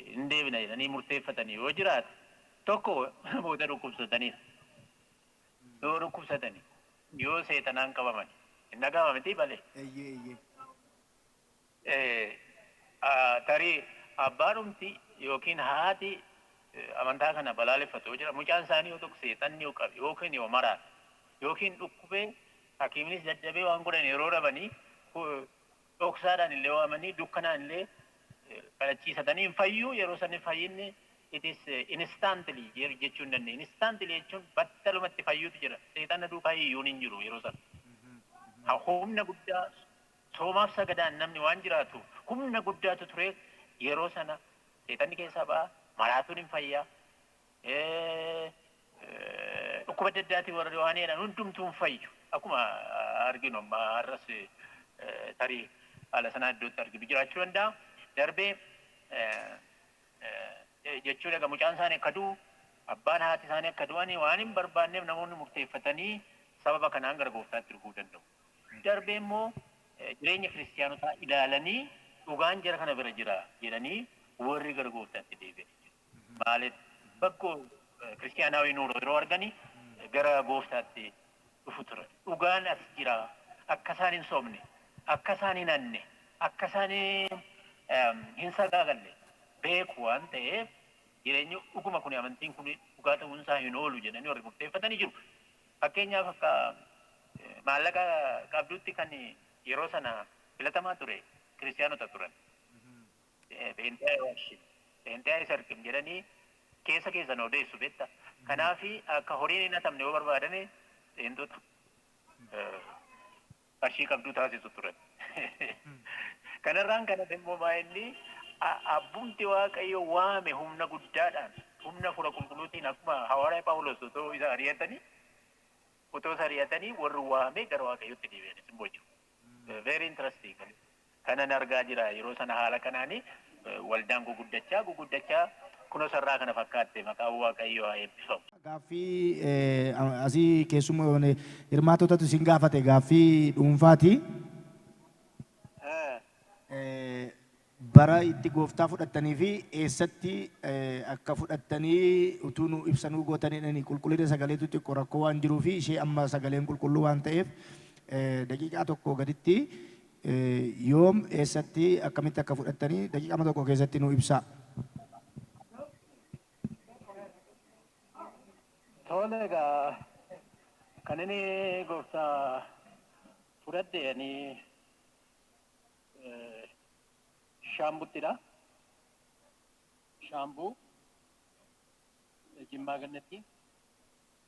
D: hin deebina jedhanii murteeffatan yoo jiraate tokko namoota dhukkubsataniidha. Yoo dhukkubsatani yoo seexanaan qabamani hin dhaga'ama miti balee. Eeyyee eeyyee. Tarii abbaadhumti yookiin haati amantaa kana balaaleffatu yoo jira, mucaan isaanii yoo tokko seexanni yoo qabe yookiin yoo maraate yookiin dhukkubee hakiiminis dadhabee waan godhan yeroo dhabanii dhoksaadhaan illee waamanii dukkanaan illee kadhachiisatanii hin fayyuu yeroo sanni fayyinni it is instantly jechuu hin dandeenye. Instantly jechuun battalumatti fayyuutu jira. Seexanna duukaa hiyyuun hin jiru yeroo sana. Humna guddaa Soomaaf sagadaan namni waan jiraatuuf humna guddaatu ture yeroo sana seexanni keessaa ba'a maraatuun hin fayya dhukkuba adda addaatiin warri waan jedhan hundumtuu hin fayyu akkuma arginu amma har'as tarii haala sanaa iddootti arginu jiraachuu danda'a darbee jechuu dhaga mucaan isaanii akka du'u abbaan haati isaanii akka du'anii waan hin barbaanneef namoonni murteeffatanii sababa kanaan gara gooftaatti dhufuu danda'u. darbee immoo jireenya kiristiyaanotaa ilaalanii dhugaan jara kana bira jira jedhanii warri gara gooftaatti deebi'anii jiru. Maaliif bakkoo kiristiyaanaawii nuuroo yeroo arganii gara gooftaatti dhufu ture. Dhugaan as jira akka isaan hin sobne akka isaan hin hanne akka isaan hin sagaagalle beeku waan ta'eef jireenyi dhuguma kun amantiin kun dhugaa ta'uun isaa hin oolu jedhanii warri murteeffatanii jiru. Fakkeenyaaf akka maallaqa qabduutti kan yeroo sana filatamaa ture Kiristiyaanota turan. Pheenxee Aywaashim, Pheenxee Ayisarqim jedhanii keessa keessan odeessu beekta. Kanaaf akka horiin hin hatamne yoo barbaadame Pheenxota. qarshii qabdu taasisu turan. Kanarraan kan hafe immoo maa'inni abbumti Waaqayyo waame humna guddaadhaan humna hafuura qulqulluutiin akkuma hawaaraya Phaawulos otoo isa ari'atanii otoo isa ari'atanii warri waame gara Waaqayyootti deebi'anis immoo jiru. Very interesting. kanan argaa jira yeroo sana haala kanaan waldaan guguddachaa guguddachaa kuno sarraa kana fakkaatte maqaan waaqayyoo haa eebbifamu. Gaaffii
E: asii keessummoon hirmaatotatu isin gaafate gaaffii dhuunfaati. Bara itti gooftaa fudhattanii fi eessatti akka fudhattanii utuu nu ibsa nuu gootanidhani qulqullina sagaleetu xiqqo rakkoo waan jiruu fi ishee amma sagaleen qulqulluu waan ta'eef daqiiqaa tokko gaditti Yoom, eessatti, akkamitti akka fudhattani daqiiqama tokko keessatti nuu ibsaa.
D: Tole egaa kan inni gooftaa fudhadhe ani eh, shaambuttidha. Shaambuu eh, Jimmaa Gannatti.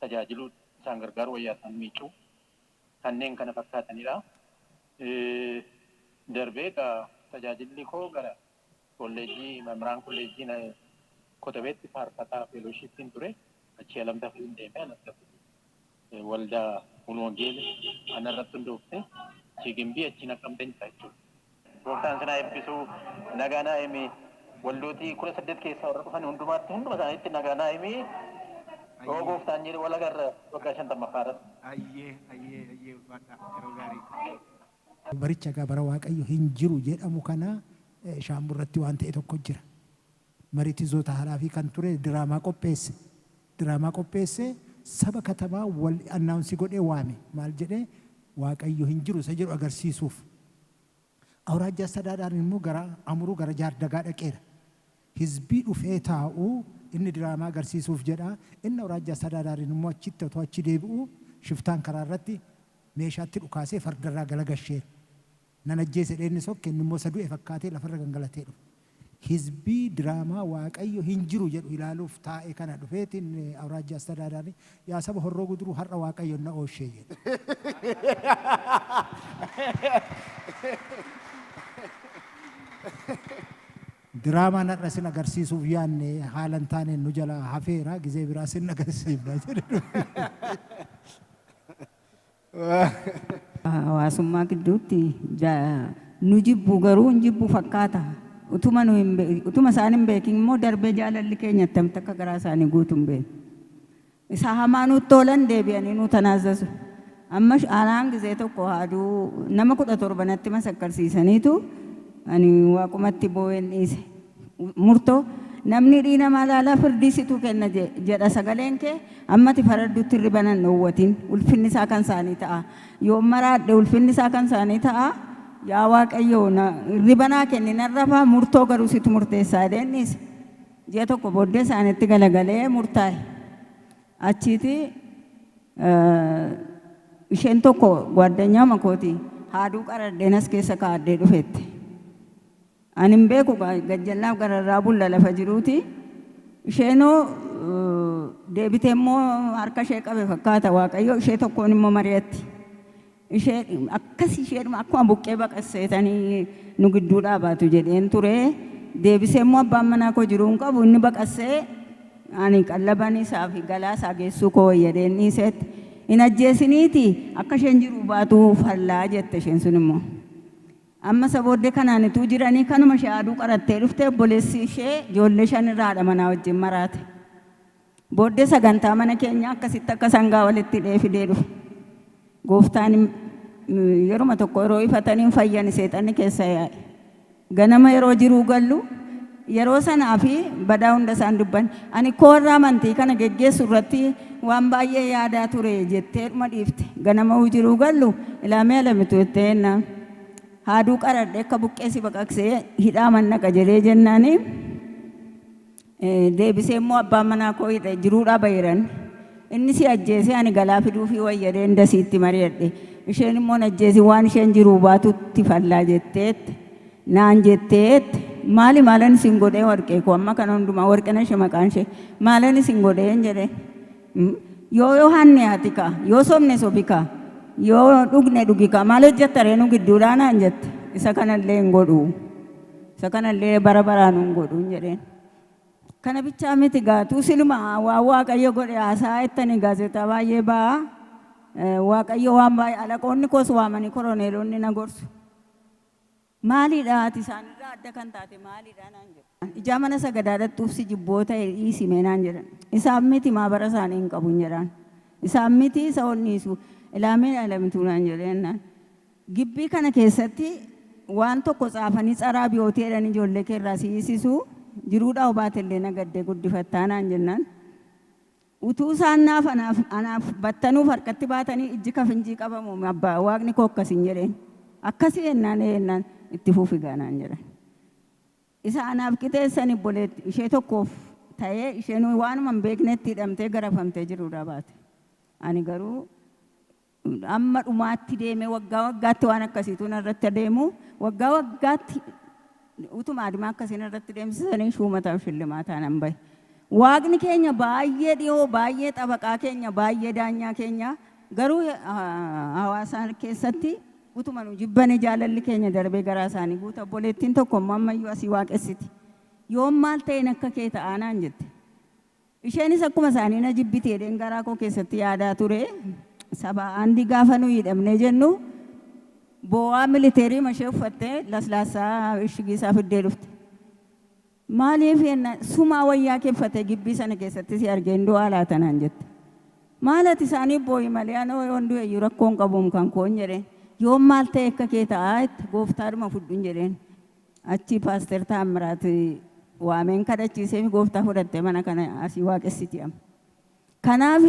D: tajaajiluu, isaan gargaaruu wayyaa isaan miicuu kanneen kana fakkaatanidha. Darbee egaa tajaajilli koo gara kolleejjii Mamiraan Kolleejjii Kotobeetti faarfataa feelooshiippiin ture. Achii Alam Tafariin deeme. Alam Tafari waldaa Mulu Wangeeli anarratti hundoofte. Achii Gimbii achii Naqamteen jira jechuudha. Gooftaan sin haa ebbisu nagaa naa himi waldootii kudha saddeet keessaa warra dhufan hundumaatti hunduma isaaniitti nagaa naa himi yoo Ayyee. gooftaan jedhe wal agarra waggaa shantammaffaa irratti. Ayyee ayyee
E: ayyee ulfaadhaa yeroo gaarii. Baricha
C: egaa bara Waaqayyo hin jiru jedhamu kana shaambu irratti waan ta'e tokko jira. Maritizoota haraafii kan ture diraamaa qopheesse. Diraamaa qopheessee saba katamaa wal announce godhee waame. Maal jedhee? Waaqayyo hin jiru isa jedhu agarsiisuuf. Awuraajjaa Astadaadaariin immoo gara Amuruu gara Jaardagaa dhaqeera. Hizbii dhufee taa'u inni diraamaa agarsiisuuf jedha. Inni Awuraajjaa Astadaadaariin immoo achitti otoo achi deebi'uu shiftaan karaa irratti meeshaa itti dhukaasee farda irraa galagasheera. Nan ajjeese jedhee inni sokke, inni immoo isa du'e fakkaatee lafa irra gangalatee dhufe. Hizbii diraamaa Waaqayyo hin jiru jedhu ilaaluuf taa'e kana dhufeeti inni Awuraajjaa Astadaadaari, Yaa saba Horroo Guduruu har'a Waaqayyoon na oolshee jedhe. Diraamaan har'a isin agarsiisuuf yaadne haala hin taaneen nu jalaa hafeera, gizee biraa isin agarsiifna jedhe dhufe.
B: Hawaasummaa gidduutti nu jibbu garuu hin jibbu fakkaata. Utuma nu hin be- utuma isaan hin beekin immoo darbee jaalalli keenya attamitti akka garaa isaanii guutu hin beeknu. Isa hamaa nutti toolan deebi'anii nu tanaazzazu. Amma sh- anaan gizee tokko haaduu nama kudha torba natti masakkarsiisaniitu ani waaqumatti boo'een dhiise. murto Namni dhii namaa laalaa firdii situ kenna jedha sagaleen kee ammati faraddutti irriba nan dhoowwatin ulfinni isaa kan isaanii ta'a yoon maraadhe ulfinni isaa kan isaanii ta'a yaa waaqayyoo irriba naa kenni nan rafaa murtoo garuu situ murteessaa jedheen dhiise ji'a tokko booddee isaanitti galagalee murtaa'e achiiti isheen tokko gwaaddanyaa makooti haaduu qaradheen as keessa kaa'addee dhufeette. Ani hin beeku gaa gajjallaaf gararraa bulla lafa jiruuti. Isheenoo deebitee immoo harka ishee qabe fakkaata Waaqayyo ishee tokkoon immoo mari'atti. Ishee akkas isheedhuma akkuma buqqee baqasseetanii nu gidduu dhaabaatu jedheen ture. Deebisee immoo abbaan manaa koo jiruu hin qabu inni baqassee ani qallaban isaa fi galaa isaa geessuu koo wayyadheen dhiiseetti. Hin ajjeesiniiti akka isheen jiruu baatu fallaa jette isheen sun immoo. Amma isa booddee kanaan utuu jiranii kanuma ishee aaduu qarattee dhufte obboleessi ishee ijoollee shan irraa haadha manaa wajjin maraate. Booddee sagantaa mana keenyaa akkasitti akka sangaa walitti hidhee fidee dhufe. Gooftaan yeruma tokko yeroo ifatanii hin fayyani seexanni keessaa yaa'e. Ganama yeroo jiruu gallu Yeroo sanaa fi badaa hunda isaan dubban. Ani koo warra amantii kana geggeessu irratti waan baay'ee yaadaa ture jetteedhuma dhiifte. Ganama hujiruu gallu ilaa mee Alamitu jettee jennaan haaduu qaradhee akka buqqee si baqaqsee hidhaa man naqa jedhee jennaan deebisee immoo abbaan manaa koo hidha jiruudhaa bahiran inni si ajjeesee ani galaa fiduufii wayyadee inda siitti mari'adhe isheen immoo ajjeesii waan isheen jiruu baatutti fallaa jetteetti. naan jettee jette maali maalan isin godhee warqee koo amma kana hundumaa warqinashe maqaan ishee maalan isin godheen jedhe yoo yoo hanne ati kaa yoo sobne sobi kaa yoo dhugne dhugi kaa maal hojjetta ree nu gidduudhaa naan jette isa kanallee hin godhu isa kanallee bara baraa nu hin godhu hin jedheen kana bichaa miti gaatuu siluma waa waaqayyo godhe haasaa ittani gaazexaa baay'ee ba'a waaqayyo waan baay'ee alaqoonni koos waamanii koroneelonni na gorsu Maaliidha ati isaanirraa adda kan taate maaliidha? naan jedhu. Ijaa mana sagadaa dhaqxuuf si jibbu yoo ta'e dhiisi mee naan jedhan. Isaan miti maabara isaanii hin qabun jedhaan. Isaan miti isa ol dhiisu. Ilaameen Alamituu naan jedhe jennaan. Gibbii kana keessatti waan tokko tsaafanii tsaraa biyootii jedhanii ijoollee kee irraa si hiisisu jiruudhaa yoo baate illee nagaddee guddifattaa naan jennaan. Utuu isaan naaf anaaf anaaf battanuuf harkatti baatanii ijji ka finjii qabamu mi abba waaqni koo akkas hin jedheen akkasii ennaan ee ennaan itti fufi gaa naan jedhan isa anaaf qixeessan ibboleetti ishee tokkoof ta'ee isheen waanuma hin beeknetti hidhamtee garafamtee jiruudhaa baate ani garuu hamma dhumaatti deemee waggaa waggaatti waan akkasiitu narratti adeemu waggaa waggaatti utuma adimaa akkasii narratti deemsisanii shuumataaf shillimaataa nan bahe. Waaqni keenya baay'ee dhiyoo baay'ee xabaqaa keenya baay'ee daanyaa keenya garuu hawaasaa keessatti utuma nu jibbane jaalalli keenya darbee garaa isaanii guuta obboleettiin tokko immoo ammayyuu asii waaqessiti yoom maal ta'een akka kee ta'aa naan jette Isheenis akkuma isaanii na jibbiti jedheen garaa koo keessatti yaadaa ture. Sabaa Aandii gaafa nuyi hidhamnee jennu boo'aa militeeriima ishee uffattee laslaassaa ishigii isaa fiddee dhufte. Maaliif jennaan sumaa wayyaa kee uffatee gibbii sana keessatti si argee hin du'aa laata naan jette. Maal ati isaaniif boo'i malee anoo yoon du'e iyyuu rakkoo hin qabuum kan koon jedheen. Yoon maal ta'e akka kee ta'aa jette gooftaadhuma fudhuun jedheen. Achii Paaster Taammiraat waameen kadhachiiseefi gooftaa fudhatte mana kana asii waaqessiti amma. Kanaaf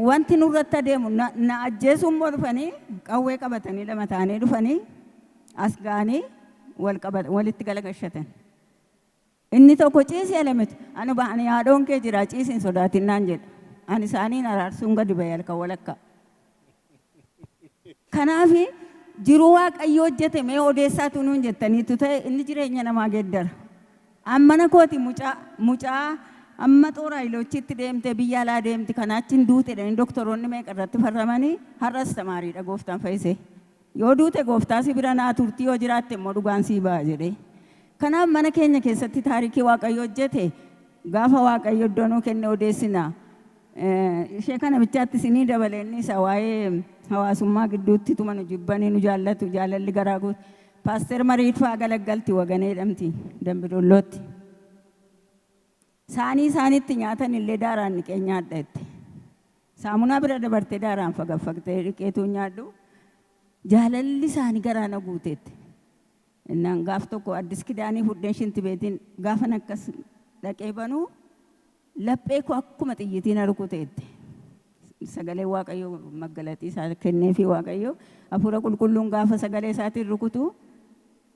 B: wanti nurratti adeemu na ajjeesuu immoo dhufanii qawwee qabatanii lama ta'anii dhufanii as ga'anii walitti galagashatan. Inni tokko, Ciisi Elemit! Ani ba'ani haadhoon kee jira, ciisi hin sodaatin naan jedhe. Ani isaaniin araarsuun gadi ba'e halkan walakkaa. Kanaaf jiruu Waaqayyo hojjete mee odeessaatuu nuun jettaniittu ta'e inni jireenya namaa geeddara. An mana kooti mucaa, mucaa amma xoor hayiloochiitti deemtee biyya alaa deemti kanaa achiin duute jedhanii doktoroonni meeqa irratti farramanii har'a astamaariidha gooftaan fayyisee. Yoo duute Gooftaa si bira naa turtii yoo jiraatte immoo dhugaan sii ba'a jedhee. Kanaaf mana keenya keessatti taarikii Waaqayyo hojjete gaafa Waaqayyo iddoo nuu kenne odeessina. Ishee kana bichaatti isinii dabale inni isa waa'ee hawaasummaa gidduutti tuma nu jibbanii nu jaallatu jaalalli garaa guutu. Paaster Mariit fa'aa galaggalti Waganee jedhamti Dambi Dollootti. Saanii isaan itti nyaatan illee daaraan dhiqeen nyaadha jette. Saamunaa bira dabartee daaraan fagaffagtee dhiqeetuun nyaadhu jaalalli saanii garaa na guute jette. Innaan gaaf tokko Addis Kidaanii fudheen shinti beetiin gaafan akkas dhaqee banu laphee koo akkuma xiyyitii na rukute jette. Sagalee Waaqayyo maggalaxii isaa kenneefii Waaqayyo hafuura qulqulluun gaafa sagalee isaatiin rukutu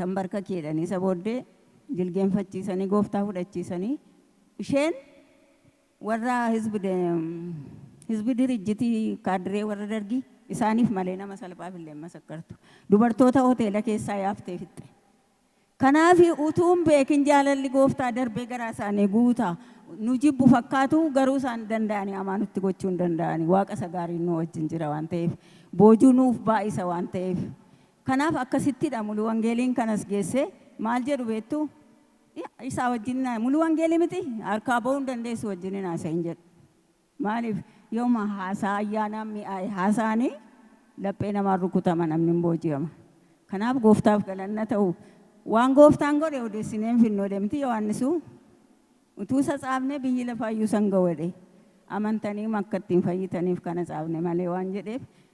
B: tanbarkaki jedhanii isa booddee jilgeenfachiisanii gooftaa fudhachiisanii isheen warra hizbi dirijjitii kaadiree warra dargii isaaniif malee nama salphaaf illee masakkartu dubartoota hoteela keessaa yaaftee fixxe kanaafi utuun beekin jaalalli gooftaa darbee garaa isaanii guuta nu jibbu fakkaatu garuu isaan danda'anii amaa nutti gochuu hin danda'anii waaqa isa gaariin nu wajjin jira waan ta'eef boojuu nuuf baay'isa waan ta'eef Kanaaf akkasitti dha Mulu Wangeeliin kan as geesse. Maal jedhu beektu? Isaa wajjin Mulu Wangeelii miti? Harkaa ba'uu hin dandeessu wajjin hin haasa'in jedhu. Maaliif? Yooma haasaa ayyaanaan mi'aaye haasa'anii laphee namaan rukutama namni hin booji'ama. Kanaaf gooftaaf galanna ta'u. Waan gooftaan godhe odeessinee hin finnu jedhe miti Yohaannisu? Utuu isa caafnee biyyi lafaa iyyuu isa hin ga'u jedhe. Amantaniima akka ittiin fayyitaniif kana caafne malee waan jedheef